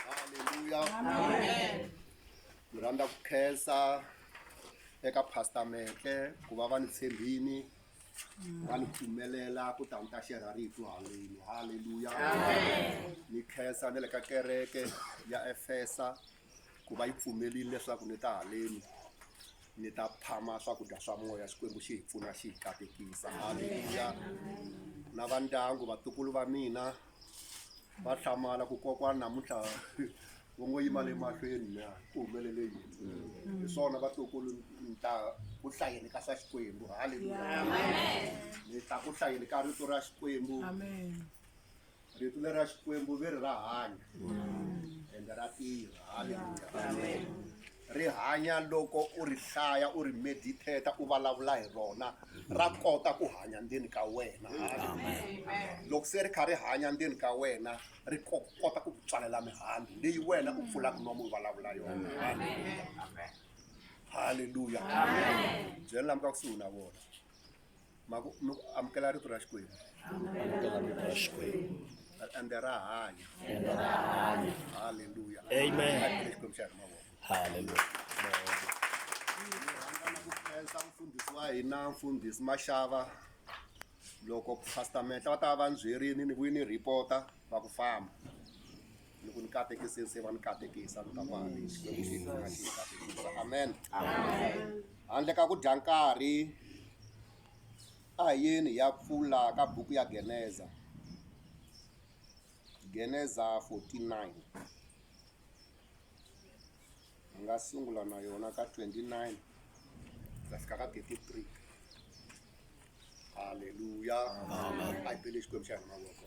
haleluya ni rhandza ku khensa eka pastor metle ku va va ni tshembini va ni pfumelela ku ta ni ta xerha rito haleni haleluya ni khensa na le ka kereke ya efesa ku va yi pfumelile leswaku ni ta haleni ni ta phama swakudya swa moya xikwembu xi hi pfuna xi hi katekisa haleluya na va ndyangu vatukulu va mina va hlamala ku kokwana namuntlha vo ngo yima le mahlweni na ku humelele yini hi swona vatukulu ni ta ku hlayeni ka swa xikwembu haleluya ni ta ku hlayeni ka rito ra xikwembu rito leri ra xikwembu ve ri ra hanya ende ra tirha haleluya Ri hanya loko u ri hlaya, u ri medithetha, u valavula hi rona. Ra kota ku hanya ndzeni ka wena. Loko se ri kha ri hanya ndzeni ka wena, ri ko kota ku ku tswalela mihandzu leyi wena u pfulaka nomu u valavula yona. Haleluya! Haleluya! Byela lava nga kusuhi na vona. ma ku mi ku amukela rito ra xikwembu amukela rito ra xikwembu ende ra hanya ende ra hanya haleluya amen xikwembu xa hi mavoko haleluya khensa mfundhisi wa hina mfundhisi maxava loko pastor menhla va ta va va ndzi byerini ni vuyi ni report-a va ku famba loko ni katekise se va ni katekisa ni ta mali xikwembu xi nga xi katekisa amen handle ka ku dya nkarhi a hi yeni hi ya pfula ka buku ya geneza geneza 49 Ni nga sungula na yona ka twenty nine ku ya fika ka thirty three. Haleluya a hi bele Xikwembu xa hina mavoko.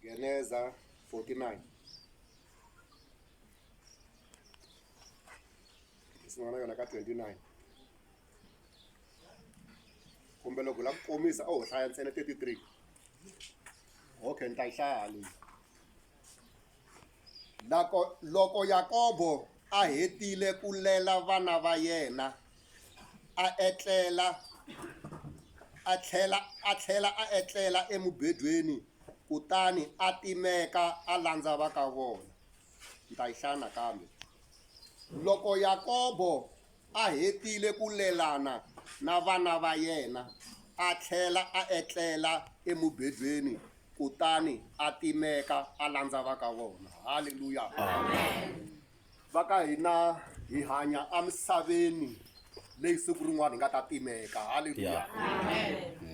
Geneza forty nine ni sungula na yona ka twenty nine. kumbe loko la ku komisa a ho hlaya ntsena 33 okay ni ta yi hlaya haleni loko loko yakobo a hetile ku lela vana va yena a etlela a tlhela a tlhela a etlela emubedweni kutani a timeka a landza va ka vona ni ta yi hlaya nakambe loko yakobo A hetile ku lelana na vana va yena, a tlhela a etlela emubedweni kutani a timeka a landza va ka vona. Haleluya! Va ka hina hi hanya emisaveni leyi siku rin'wana hi nga ta timeka. Haleluya!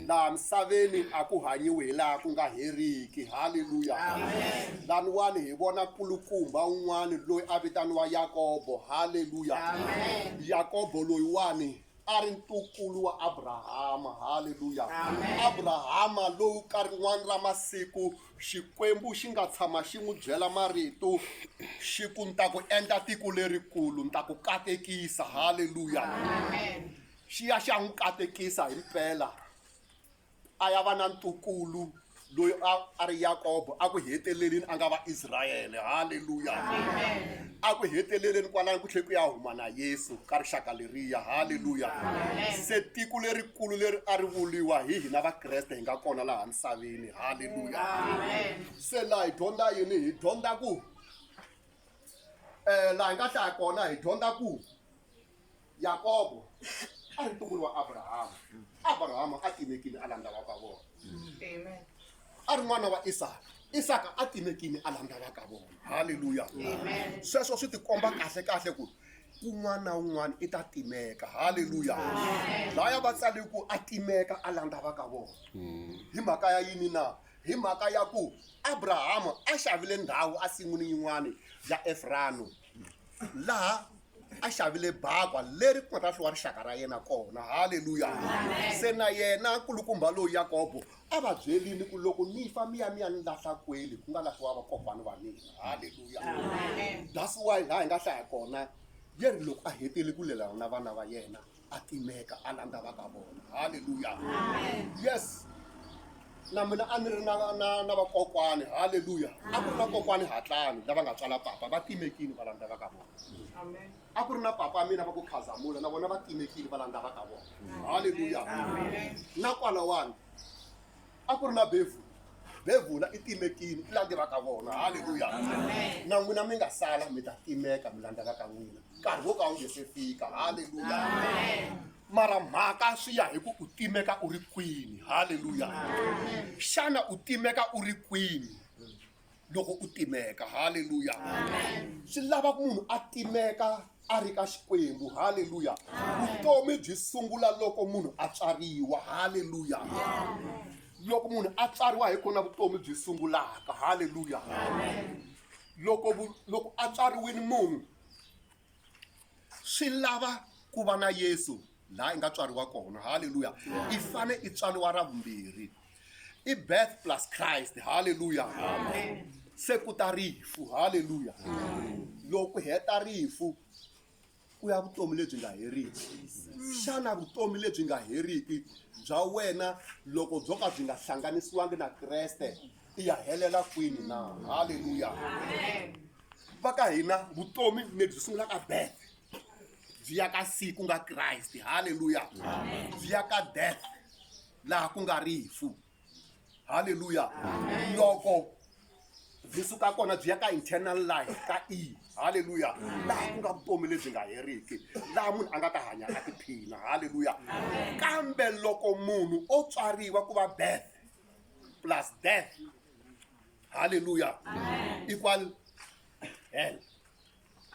laha misaveni a ku hanyiwi hi laha ku nga heriki halleluya laniwani hi vona kulukumba un'wani loyi a vitaniwa yakobo halleluya yakobo loyiwani a ri ntukulu wa abrahama halleluya abrahama lowu ka rin'wana ra masiku xikwembu xi nga tshama xi n'wi byela marito xi ku ni ta ku endla tiko lerikulu ni ta ku katekisa halleluya xi ya xi ya n'wi katekisa hi mpela a ya va na ntukulu loyi a a ri yakobo a ku heteleleni a nga va israyele halleluya a ku heteleleni kwalani ku tlhe ku ya huma na yesu ka rixaka leriya halleluya se tiko lerikulu leri a ri vuriwa hi hina vakreste hi nga kona laha misaveni halleluya se laha hi dyondza yini hi dyondza ku um laha hi nga hlaya kona hi dyondza ku Yakobo a ri ntukulu wa Abrahama. Abrahama a timekile a landza va ka vona. Amen. A ri n'wana wa Isaka. Isaka a timekile a landza va ka vona. Haleluya. Amen. Sweswo swi tikomba kahle kahle ku kun'wana na un'wana i ta timeka. Haleluya. Laya va tsale ku a timeka a landza va ka vona. Hi mhaka ya yini na? Hi mhaka ya ku Abrahama a xavile ndhawu a sin'wini yin'wana ya Efrano. laha a xavile bakwa leri ku nga ta hliwa rixaka ra yena kona halleluya se na yena nkulukumba lowu yakobo a va byelini ku loko ni fa miya miya ni lahla kweli ku nga lahliwa vakokwani va mina halleluya that's why laha hi nga hlaya kona yeri loko a hetile ku lelana na vana va yena a timeka a landza va ka vona halleluya yes na mina a ni ri na na na vakokwani halleluya a ku ri na kokwani hatlani lava nga tswala papa va timekile va landza va ka vona a ku ri na papa a mina va ku khazamula na vona va timekile va landza va ka vona halleluya na kwalawani a ku ri na bevhula bevhula i timekini i lange va ka vona halleluya na n'wina mi nga sala mi ta timeka mi landzaka ka n'wina nkarhi wo ka wu nge se fika halleluya mara mhaka swi ya hi ku u timeka u ri kwini halleluya xana u timeka u ri kwini loko u timeka halleluya swi lava ku munhu a timeka a ri ka xikwembu halleluya vutomi byi sungula loko munhu a tswariwa halleluya loko munhu a tswariwa hi kona vutomi byi sungulaka halleluya loko loko a tswariwile munhu Swi lava ku va na Yesu laha i nga tswariwa kona haleluya i fane i tswariwa ra vumbirhi i birth plus Christ haleluya se ku ta rifu haleluya loko heta rifu ku ya vutomi lebyi nga heriki xana vutomi lebyi nga heriki bya wena loko byo ka byi nga hlanganisiwangi na Kreste i ya helela kwini na halleluya va ka hina vutomi lebyi sungulaka birth byi ya ka siku nga kriste halleluya byi ya ka death laha ku nga rifu halleluya loko byi suka kona byi ya ka internal life ka e halleluya laha ku nga vutomi lebyi nga heriki laha munhu a nga ta hanya a tiphina halleluya kambe loko munhu o tswariwa ku va birth plus death. Hallelujah. Amen. Equal hell.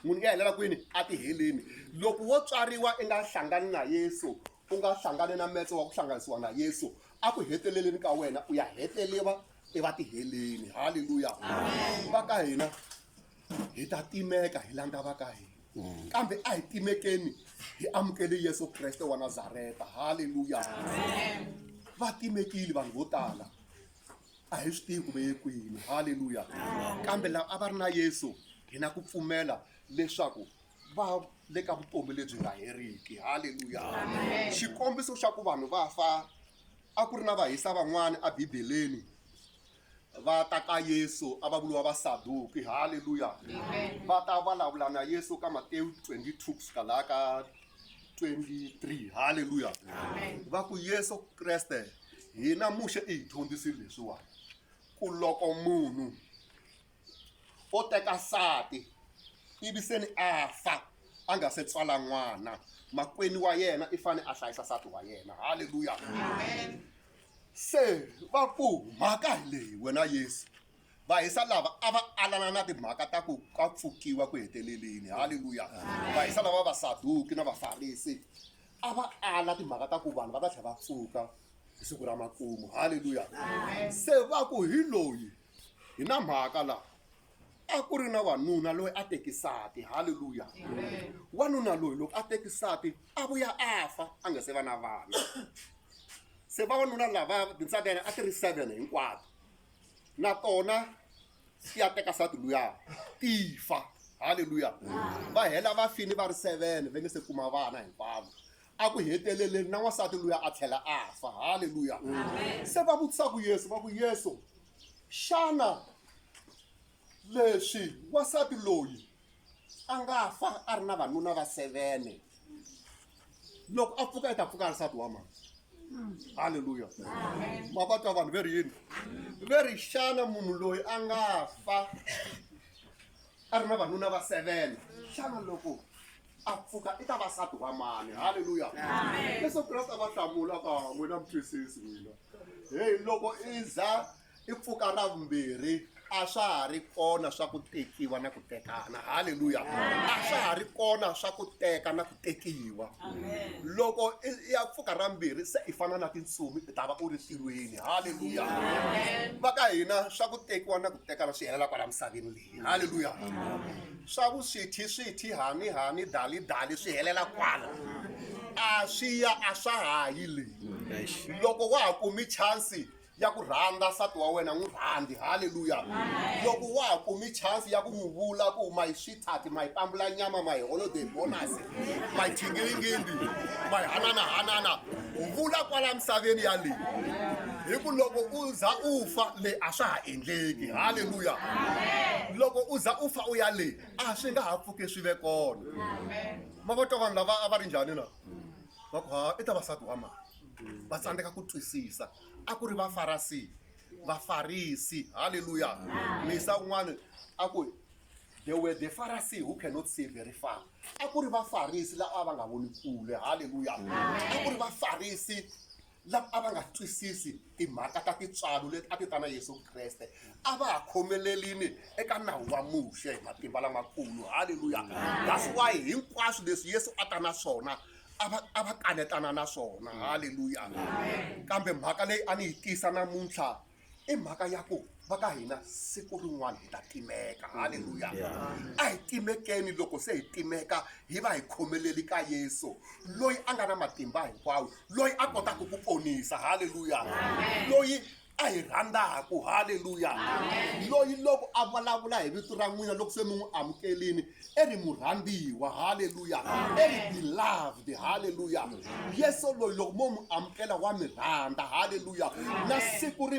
munhu nga helela kwini a ti heleni loko wo tswariwa i nga hlangani na yesu u nga hlangani na metse wa ku hlanganisiwa na yesu a ku heteleleni ka wena u ya heteleva evatihheleni halleluya va ka hina hi ta timeka hi langa va ka hina mm. kambe a hi timekeni hi amukele yesu kreste wa nazareta halleluya va timekile vanhu vo tala a hi swi tivi ku ve ye kwini halleluya kambe lava a va ri na yesu hi na ku pfumela leswaku va le ka vutomi lebyi nga heriki halleluya xikombiso xa ku vanhu va fa a ku ri na vahisa van'wana ebibeleni va ta ka yesu a va vuriwa vasaduki halleluya va ta vulavula na yesu ka matewu 22 ku suka laha ka 23 halleluya va ku yesu kreste hina muxe i hi dyondzisile leswiwani ku loko munhu o teka nsati ivi se ni a fa a nga se tswala n'wana makwenu wa yena i fanele a hlayisa nsati wa yena halleluya se va ku mhaka hi leyi wena yesu vahisa lava a va alana na timhaka ta ku ka pfukiwa ku heteleleni halleluya vahisa lava va vasaduki na vafarisi a va ala timhaka ta ku vanhu va ta tlhela va pfuka hi siku ra makumu halleluya se va ku hi loyi Hi na mhaka laha a ku ri na wanuna loyi a tekisati halleluya wanuna loyi loko a tekisati a vuya a fa a nga se va na vana se vavanuna lava tintsaka yena a ti ri seven hinkwato na tona ti ya teka sati luya ti fa halleluya va hela va fini va ri seven va nge se kuma vana hinkwavo a ku heteleleni na n'wansati luya a tlhela a fa halleluya se va vutisa ku yesu va ku yesu xana leswi wansati loyi a nga fa a ri na vanuna va sevene loko a pfuka i ta pfuka nsati wa mani halleluya ma va twa vanhu ve ri yini ve ri xana munhu loyi a nga fa a ri na vanuna va sevene xana loko a pfuka i ta vasati wa mani halleluya leswo kreste a va hlamula ka n'wina mutwisisi n'wina heyi loko i za i pfuka ra vumbirhi a swa ha ri kona swa ku tekiwa na ku tekana halleluya a swa ha ri kona swa ku teka na ku tekiwa loko i ya pfuka ra mbirhi se i fana na tintsumi i ta va u ri tirhweni halleluya va ka hina swa ku tekiwa na ku tekana swi helela kwala misaveni leyi halleluya swa vuswithi swithi hani hani dali dali swi helela kwala a swi ya a swa ha yi le loko wa ha kumi chansi ya ku rhandza nsati wa wena n'wi rhandzi halleluya loko wa ha kumi chansi ya ku n'wi vula ku my sweetheart my pambula nyama my holiday bonus majingilingindi mahananahanana u vula kwala misaveni yaleyi hi ku loko u za u fa le a swa ha endleki halleluya loko u za u fa u ya le a swi nga ha pfuke swi ve kona ma va twa vanhu lava a va ri njhani na va ku ha i ta vasati wa mali va tsandzeka ku twisisa a ku ri vafarasi vafarisi halleluya misa un'wana a ku there were the pharisee who cannot see very far a ku ri vafarisi lava a va nga voni kule halleluya a ku ri vafarisi lava a va nga twisisi timhaka ta tintswalo leti a ti ta na yesu kreste a va ha khomelelini eka nawu wa muxe hi matimba lamakulu halleluya that's why hinkwaswo leswi yesu a ta na swona a va a va kanetana na swona halleluya kambe mhaka leyi a ni yi tisa namuntlha i mhaka ya ku va ka hina siku rin'wana hi ta timeka halleluya a hi timekeni loko se hi timeka hi va hi khomeleli ka yesu loyi a nga na matimba hinkwawo loyi a kotaka ku ponisa halleluya loyi a hi rhandzaka halleluya loyi loko a vulavula hi vito ra n'wina loko se mi n'wi amukelini i ri murhambiwa halleluya i ri beloved halleluya yesu loyi loko mo n'wi amukela wa mi rhandza halleluya na siku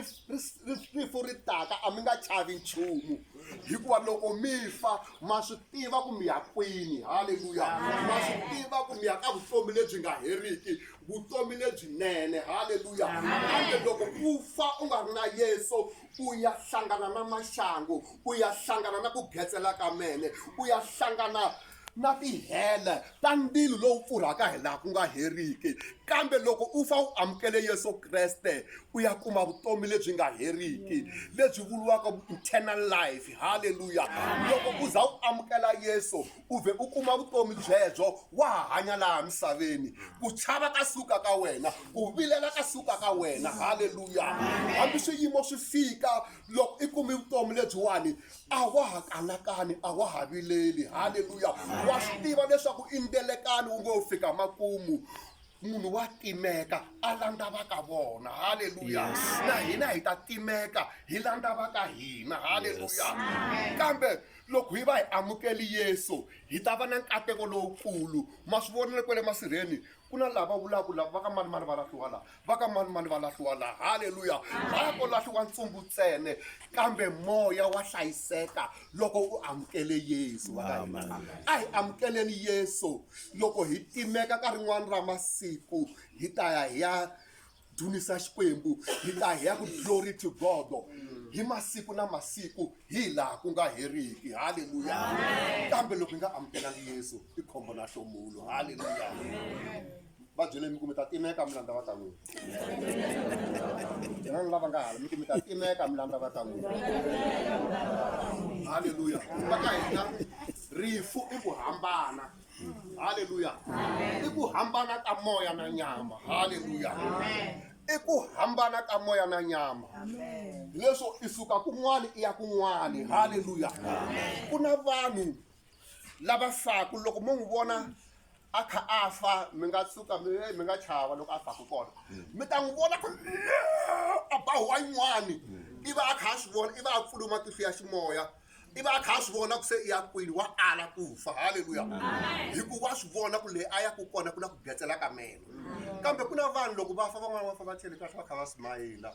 rifu ri taka a mi nga chavi nchumu hikuva loko mi fa ma swi tiva ku mi ya kwini halleluya ma swi tiva ku mi ya ka vutomi lebyi nga heriki vutomi lebyinene halleluya kambe loko u fa u nga ri na yesu u ya hlangana na maxangu u ya hlangana na ku getsela ka mene u ya hlangana na tihele ta ndzilo lowu pfurhaka hi laha ku nga heriki kambe loko u fa u amukele yesu kreste u ya kuma vutomi lebyi nga heriki lebyi vuriwaka eternal life halleluya loko u za u amukela yesu u vhe u kuma vutomi byebyo wa ha hanya laha misaveni ku chava ka suka ka wena ku vilela ka suka ka wena halleluya hambi swiyimo swi fika loko i kumi vutomi lebyiwani a wa ha kanakani a wa ha vileli halleluya wa swi tiva leswaku i ndelekani wu ngo fika makumu munhu wa timeka a landza va ka vona halleluya na hina hi ta timeka hi landza va ka hina halleluya kambe loko hi va hi amukeli yesu hi ta va na nkateko lowukulu ma swi vonile kwale masirheni ku na lava vulaka lava va ka mani mani va lahliwa laha va ka mani mani va lahliwa laha halleluya va ko lahliwa ntsumbu ntsene kambe moya wa hlayiseka loko u amukele yesu va ka hina a hi amukeleni yesu loko hi timeka ka rin'wana ra masiku hi ta ya hi ya dzunisa xikwembu hi ta hi ya ku glory to god hi masiku na masiku hi laha ku nga heriki halleluya kambe loko hi nga amukelanga yesu i khombo na hlomulo halleluya va byele mi ku mi ta timeka mi landza va ka n'wina van'wana lava nga hala mi ku mi ta timeka mi landza va ka n'wina halleluya va ka hina rifu i ku hambana halleluya i ku hambana ka moya na nyama halleluya i ku hambana ka moya na nyama leswo i suka kun'wana i ya kun'wana halleluya ku na vanhu lava faku loko mo n'wi vona a kha a fa mi nga tsuka mi eh, mi nga chava loko a faku kona mi ta n'wi vona ku a ba wayin'wani i va a kha a swi vona i va a pfule matihlo ya ximoya i va a kha a swi vona ku se i ya kwini wa ala ku fa halleluya hikuva a swi vona ku leyi a ya ku kona ku na ku byetsela ka meno kambe ku na vanhu loko va fa van'wana va fa va tlhele kahle va kha va smayila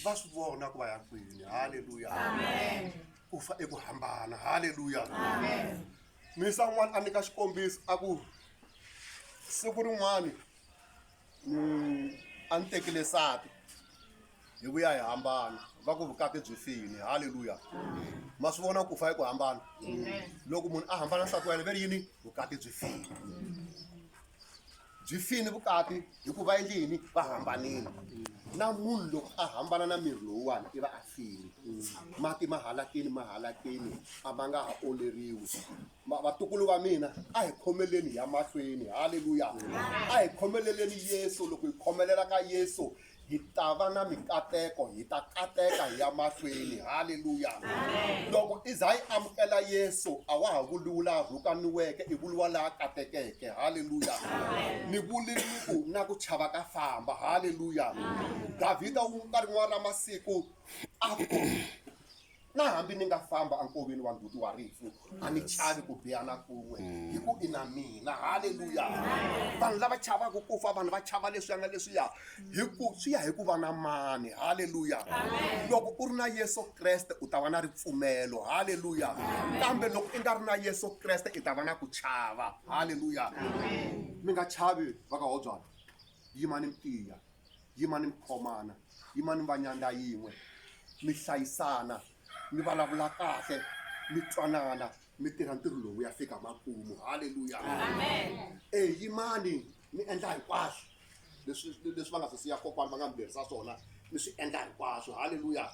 va swi vona ku va ya kwini halleluya ku fa i ku hambana halleluya minisa un'wana a nyika xikombiso a ku siku rin'wana ni a ni tekile sati hi vuya hi hambana va ku vukati byi fini halleluya ma swi vona ku fa i ku hambana loko munhu a hambana nsati wa yena ve ri yini vukati byi fini byi fini vukati hi ku va endle yini va hambanile na munhu loko a hambana na miri lowuwani i va a fini mati ma halakini ma halakini a ma nga ha oleriwi Ma- vatukulu va mina a hi khomeleni ya mahlweni halleluya a hi khomeleleni yesu loko hi khomelela ka yesu hi ta va na mikateko hi ta kateka hi ya mahlweni halleluya loko i za yi amukela yesu a wa ha vuliwi laha rhukaniweke i vuliwa laha katekeke halleluya ni vuliliku na ku chava ka famba halleluya davhida wu ka rin'wana ra masiku a ku Na hambi ni nga famba enkoveni wa nduti wa rifu, a ni chavi ku biha na kun'we, hi ku i na mina. Haleluya! Vanhu lava chavaka ku fa, vanhu va chava leswiya na leswiya, hi ku swi ya hi ku va na mani. Haleluya! Loko u ri na Yesu Kreste u ta va na ripfumelo. Haleluya! Kambe loko i nga ri na Yesu Kreste i ta va na ku chava. Haleluya! Mi nga chavi vakahobyana, yimani mi tiya. yimani mi khomana yimani mi va nyandza yin'we mi hlayisana mi vulavula kahle mi twanana mi tirha ntirho lowu ya fika makumu halleluya e yimani mi endla hinkwaswo leswi leswi va nga swi siya kokwana va nga mi lerisa swona mi swi endla hinkwaswo halleluya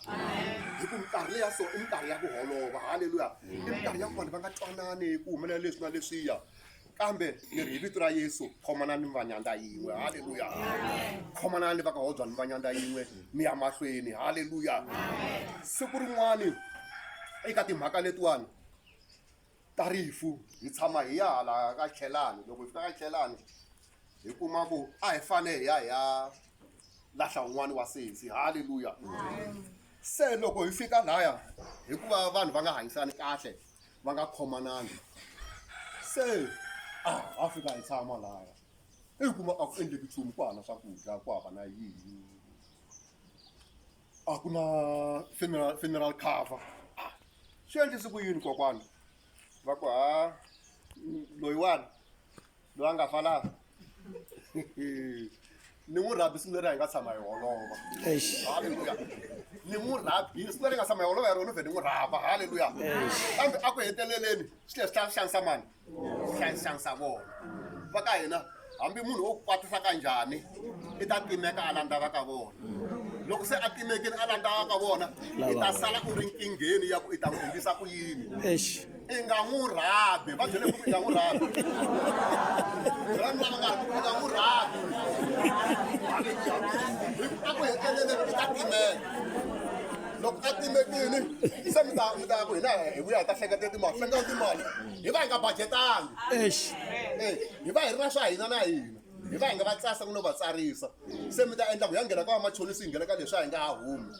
hi ku minkarhi leya so i minkarhi ya ku holova halleluya i minkarhi ya ku vanhu va nga twanani ku humelela leswi na leswiya kambe ni ri hi vito ra yesu khomanani mi va nyandza yin'we halleluya khomanani va ka hodzwa ni va nyandza yin'we mi ya mahlweni halleluya siku rin'wani eka timhaka letiwani ta rifu hi tshama hi ya hala ka tlhelani loko hi fika ka tlhelani hi kuma ku a hi fane hi ya hi ya lahla un'wani wa sesi halleluya se loko hi fika laya hikuva vanhu va nga hanyisani kahle va nga khomananga se a ha fika hi tshama laya i kuma a ku endleki nchumu ku hava na swakudya ku hava na yini a ku na funeral funeral cover swi endlise ku yini kokwana va ku ha loyiwani. loyi a nga fa laha ni n'wi rhabi siku leri a hi nga tshama hi holova halleluya ni n'wi rhabi siku leri hi nga tshama hi holova hi rona vhe ni n'wi rhaba halleluya kambe a ku heteleleni swi leswi tlaa swi xanisa mani swi tlaa swi xanisa vona va ka hina hambi munhu wo kwatisa ka njhani i ta timeka a landza va ka vona loko se a timekile a landza va ka vona i ta sala u ri nkingheni ya ku i ta n'wi endlisa ku yini i nga n'wi rhabi va byele ku i nga n'wi rhabi byela ni lava nga i nga n'wi rhabi a ku heteleleni i ta timela loko a timekini se mi ta mi ta ku hina hi vuya hi ta hleketa timali hleketa timali hi va hi nga budgetanga hi va hi ri na swa hina na hina hi va hi nga va tsasa ku no va tsarisa se mi ta endla ku ya nghena ka vamachonisi hi nghena ka leswi a hi nga ha humi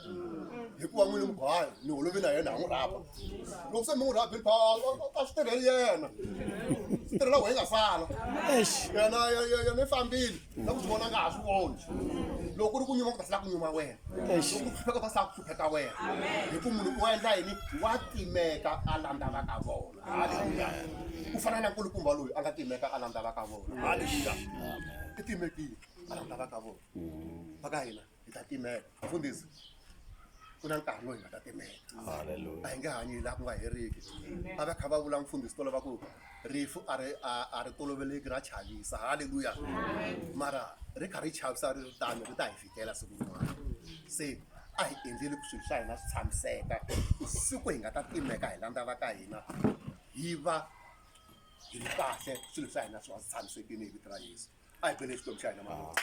hikuva n'wini mugwayi ni holovi na yena ha n'wi rhaba loko se mi n'wi rhabile pha a swi tirheli yena swi tirhela ku hi nga sala yena yena i fambile na ku swi vona nga ha swi voni loko ku ri ku nyuma ku ta sala ku nyuma wena loko ku hlupheka ta sala ku hlupheka wena hi ku munhu u endla yini wa timeka a landza va ka vona haleluya ku fana na nkulukumba loyi a nga timeka a landzaka ka vona haleluya i timekile a landzaka ka vona va ka hina hi ta timeka mfundhisi ku na nkarhi loyi nga ta timeka a hi nge hanyi laha ku nga heriki a va kha va vula mfundhisi tolo va ku rifu a ri a- a ri toloveleki ra chavisa haleluya mara ri kha ri chavisa ri ri tano ri ta hi hela siku rin'wana se a hi endleli ku swilo swa hina swi tshamiseka siku hi nga ta timeka hi landza va ka hina hi va hi ri kahle swilo swa hina swi va swi tshamisekile hi vito ra yesu a hi bele xikwembu xa hina mavona